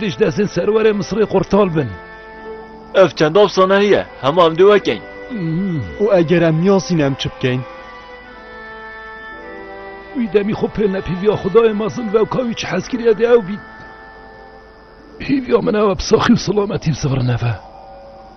Dicle zin serwerê Misirê qurtal bin. Ev çendab sanahiye, hema em dê wekeyn. û eger em niyasîn em çi bikeyn? Wî demî xwe pê nepîviya xudayê me zil vewka wî çi hez kiriye dê ew bî. Pîviya min ew e bi saxî û silametî bi zivir neve.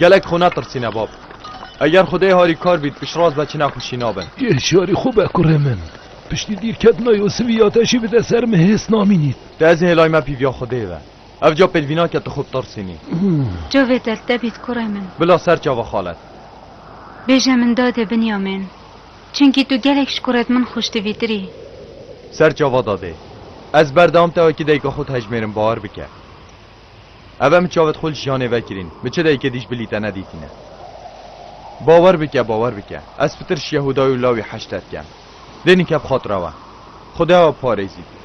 Gelek xwe netirsîne bab. Eger xwedê harî kar bît piştrast de çi nexweşî nabin. Yê şarî xwe be kurê min. Piştî dîrketina Yûsivî ya te jî bide ser min hês namînît. Tu ez hêlay me pîviya xwedê be. Ev ca pêdvîna ke tu xwe bitirsînî. Çavê derdte bît kurê min. Bila ser çav e xalet. Bêje min dade binya mên. Çimkî tu gelek ji kurê di min xuştivîtirî. Ser çava dadê. Ez berdewam te wekî dayika xwe dihejmêrim bawer bike. Ev e min çavê di xwe li jiyanê vekirîn, min çi dayikê dîş bilî te nedîtîne. Bawer bike, bawer bike. Ez pitir ji Yehûdayê û lawî heşter kem. Dê nikep xatira we. Xwedaya we biparêzît.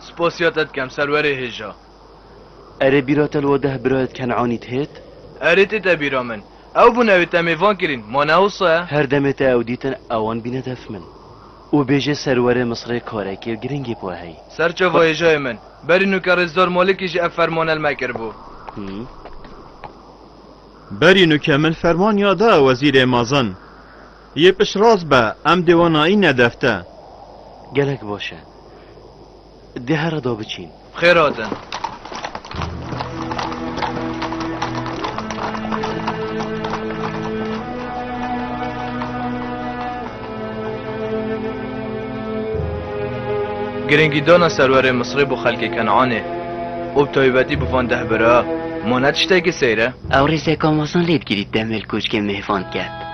Sipasiya te dikem serwerê hêja. Erê bîra te li we deh birayet Ken'anî têt? Erê tête bîra min. Ew bûn ew ê te mêvan kirîn, ma ne wisa ye? Her demê te ew dîtin ewan bîne def min û bêje serwerê Misirê karekê girîng ê bi we heye. Serçava hêjayê min, berî nuke Rêzdar Malikî jî ev fermane li me kiribû. Berî nuke min ferman ya da wezîrê Mazin. Yê piştrast be, em dê wan naîne defte. Gelek baş e. Dê here da biçîn. Bi xêr hatin. Girîngîdana serwerê Misrê bo xelkê Kenanê û bi taybetî bi van deh bira ma ne tiştekî seyr e? Ewrê Zeka Masan lêdgirî demel koçkê mêvan ket.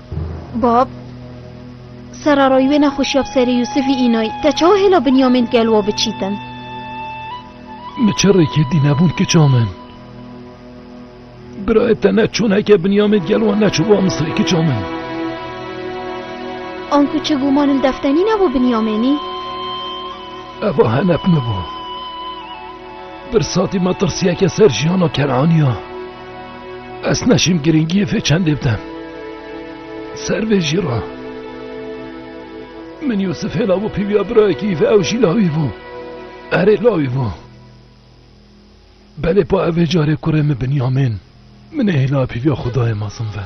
Bab, Sera rayî wê nexweşiya bi serê Yûsifî înayî, te çawa hêla Binyamîn gel wa biçîtin? Min çi rêkê dî nebûn kiça min? Birayê te ne çûneke Binyamîn gel wa neçû ba Misirê kiça min? Anku çi gûman li deftenî nebû Binyamînî? Eva henep min bû. Birsatî me tirsiyeke ser jiyana Kenaniya. Ez naşim giringiyê vê çendê bide. Ser vê jî re. Min Yûsif hêla bû pîviya birayekî ve ew jî lawî bû. Erê lawî bû. Belê pa evê carê kurê min Binyamîn min ê hêla pîviya xwe dayê mezin ve.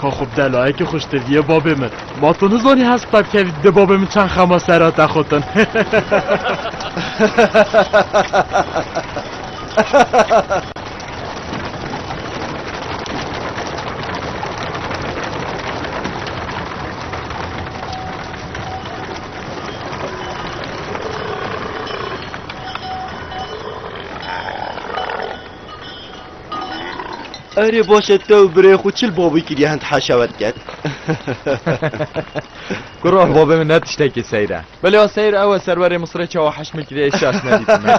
Ka xwe bi delayekî xwe ji te viye babê min. Ma tu nizanî hespta kevî dide babê min çend xema ser hat exutin. Erê baş e te û birê xwe çil bavî kiriye hend heşa we diket. Kurban bavê min ne tiştekî seyr e. Belê ya seyr ew e serwerê Misirê çawa heşt min kiriye êşî aş nedîtime.